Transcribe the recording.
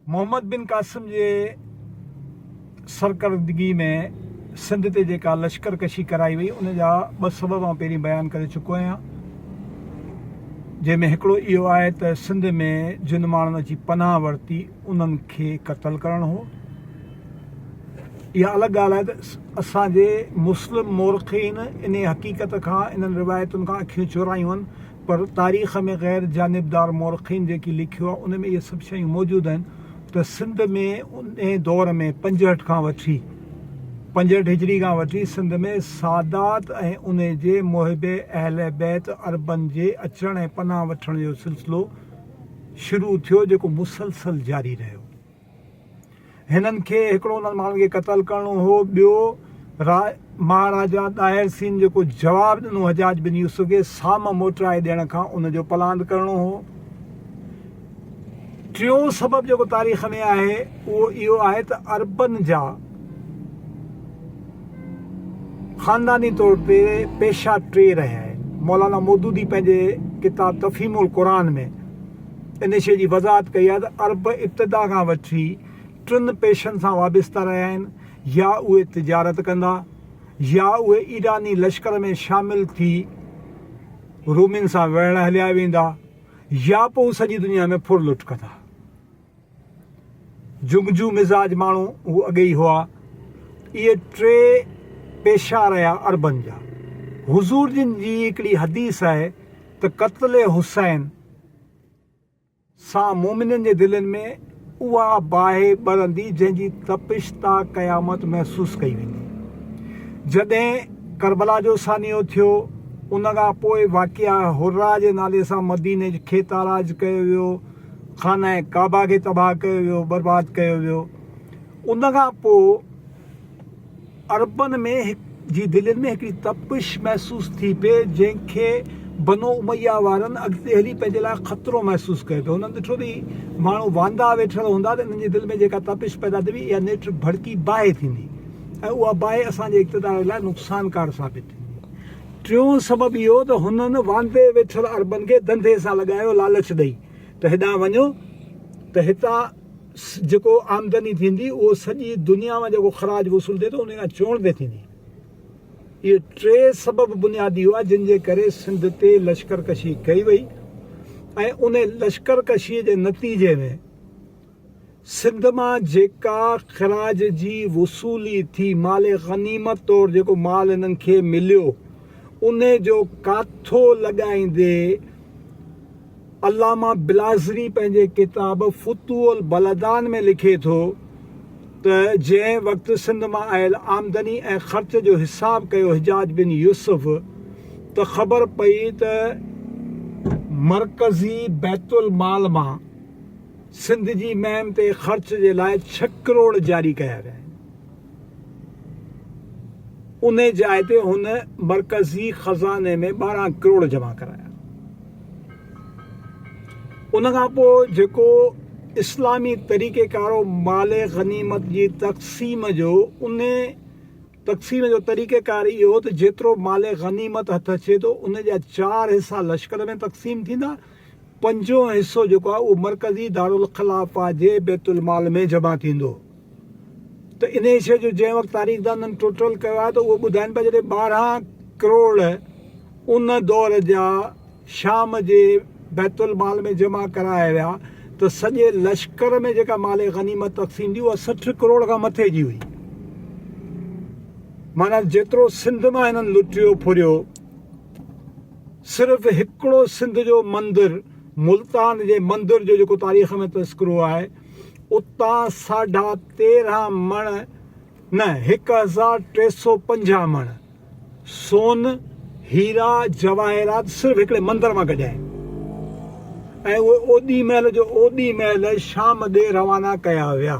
محمد بن قاسم جي سرڪردگي ۾ سنڌ تي جيڪا لشڪر ڪشي ڪرائي وئي ان جا ٻه سبب آئون پهرين بيان ڪري چڪو آهيان جنهن ۾ هڪڙو اهو آهي ته سنڌ ۾ جن ماڻهن اچي پناهه ورتي انهن کي قتل ڪرڻ هو اها الڳ ڳالهه آهي ته اسان جي مسلم مورخين انهي حقيقت کان انهن روايتن کان اکيون چورايون آهن پر تاريخ ۾ غير جانبدار مورخين جيڪي لکيو آهي ان ۾ اهي سڀ شيون موجود آهن ته سنڌ ۾ انهي دور ۾ پنجهٺ کان وٺي پنجهٺ هجري کان وٺي سنڌ ۾ سادات ۽ انهي جي محب اهل بيت عربن جي اچڻ ۽ پناهه وٺڻ جو سلسلو شروع ٿيو جيڪو مسلسل جاري رهيو. هنن کي هڪڙو انهن ماڻهن کي قتل ڪرڻو هو ٻيو را مهاراجا ڏاهر سين جيڪو جواب ڏنو حجاج بن يوسف کي سام موٽرائي ڏيڻ کان ان جو پلاند ڪرڻو هو ٽيون سبب جيڪو تاريخ ۾ آهي اهو اهو آهي ته عربن جا خانداني طور تي پيشا ٽي رهيا آهن مولانا مودودي پنهنجي ڪتاب تفهيم القرآن ۾ ان شيء جي وضاحت ڪئي آهي ته عرب ابتدا کان وٺي ٽن پيشن سان وابسته رهيا آهن، يا اهي تجارت ڪندا، يا اهي ايراني لشڪر ۾ شامل ٿي رومين سان وڙهڻ هليا ويندا، يا پوء هو سڄي دنيا ۾ ڦر لٽ ڪندا. جنگجو مزاج ماڻهو هو اڳي ئي هئا. اهي ٽي پيشا رهيا عربن جا. حضور جن جي هڪڙي حديث آهي ته قتل حسين سان مؤمنن جي دلين ۾ اها باهه ٻرندي جنهن جي تپش تا قيامت محسوس ڪئي ويندي. جڏهن ڪربلا جو سانحو ٿيو ان کان پوء واقعه حرا جي نالي سان مديني کي تاراج ڪيو ويو، خانه ڪعبه کي تباهه ڪيو ويو، برباد ڪيو ويو. ان کان پوء. عربن ۾ جي دلين ۾ هڪڙي تپش محسوس ٿي پئي جنهن کي بنو اميه وارن اڳتي هلي پنهنجي لاء خطرو محسوس ڪيو پئي هنن ڏٺو ته هي ماڻهو واندا ويٺل هوندا ته انهن جي دل ۾ جيڪا تپش پيدا ٿيندي اها نيٺ ڀڙڪي باهه ٿيندي ۽ اها باهه اسان جي اقتدار لاء نقصانڪار ثابت ٿيندي ٽيون سبب اهو ته هنن واندي ويٺل عربن کي دنڌي سان لڳايو لالچ ڏئي ته هيڏانهن وڃو ته هتان جيڪو آمدني ٿيندي اهو سڄي دنيا مان جيڪو خراج وصول ٿئي ٿو انهي کان چوڻ پئي ٿيندي. اهي ٽي سبب بنيادي هئا جن جي ڪري سنڌ تي لشڪر ڪشي ڪئي وئي ۽ انهي لشڪر ڪشي جي نتيجي ۾ سنڌ مان جيڪا خراج جي وصولي ٿي مال غنيمت طور جيڪو مال هنن کي مليو انهي جو ڪاٿو لڳائيندي علامه بلاذري پنهنجي ڪتاب فتوح البلدان ۾ لکي ٿو ته جنهن وقت سنڌ مان آيل آمدني ۽ خرچ جو حساب ڪيو حجاج بن يوسف ته خبر پئي ته مرڪزي بيت المال مان سنڌ جي مهم تي خرچ جي لاء ڇهه ڪروڙ جاري ڪيا ويا آهن. انهي جاء تي هن مرڪزي خزاني ۾ ٻارهن ڪروڙ جمع ڪرايا. ان کان پوء جيڪو اسلامي طريقي ڪارو مال غنيمت جي تقسيم جو انهي تقسيم جو طريقي ڪار اهو هو ته جيترو مال غنيمت هٿ اچي ٿو انهي جا چار حصا لشڪر ۾ تقسيم ٿيندا پنجون حصو جيڪو آهي اهو مرڪزي دارالخلافه جي بيت المال ۾ جمع ٿيندو ته انهيء شيء جو جنهن وقت تاريخدانن ٽوٽل ڪيو آهي ته اهو ٻڌائين پيا جڏهن ٻارهن ڪروڙ ان دور جا شام جي بيت المال ۾ جمع ڪرايا ويا ته سڄي لشڪر ۾ جيڪا مال غنيمت تقسيم ٿي اها سٺ ڪروڙ کان مٿي جي هئي معنيٰ جيترو سنڌ مان هنن لٽيو ڦريو. صرف هڪڙو سنڌ جو مندر ملتان جي مندر جو جيڪو تاريخ ۾ تذڪرو آهي اتان ساڍا تيرهن مڻ نه هڪ هزار ٽي سو پنجاهه مڻ سون هيرا جواهرات صرف هڪڙي مندر مان ڪڍيا آهن ۽ اهي اوڏي مهل جو اوڏي مهل شام ڏي روانا ڪيا ويا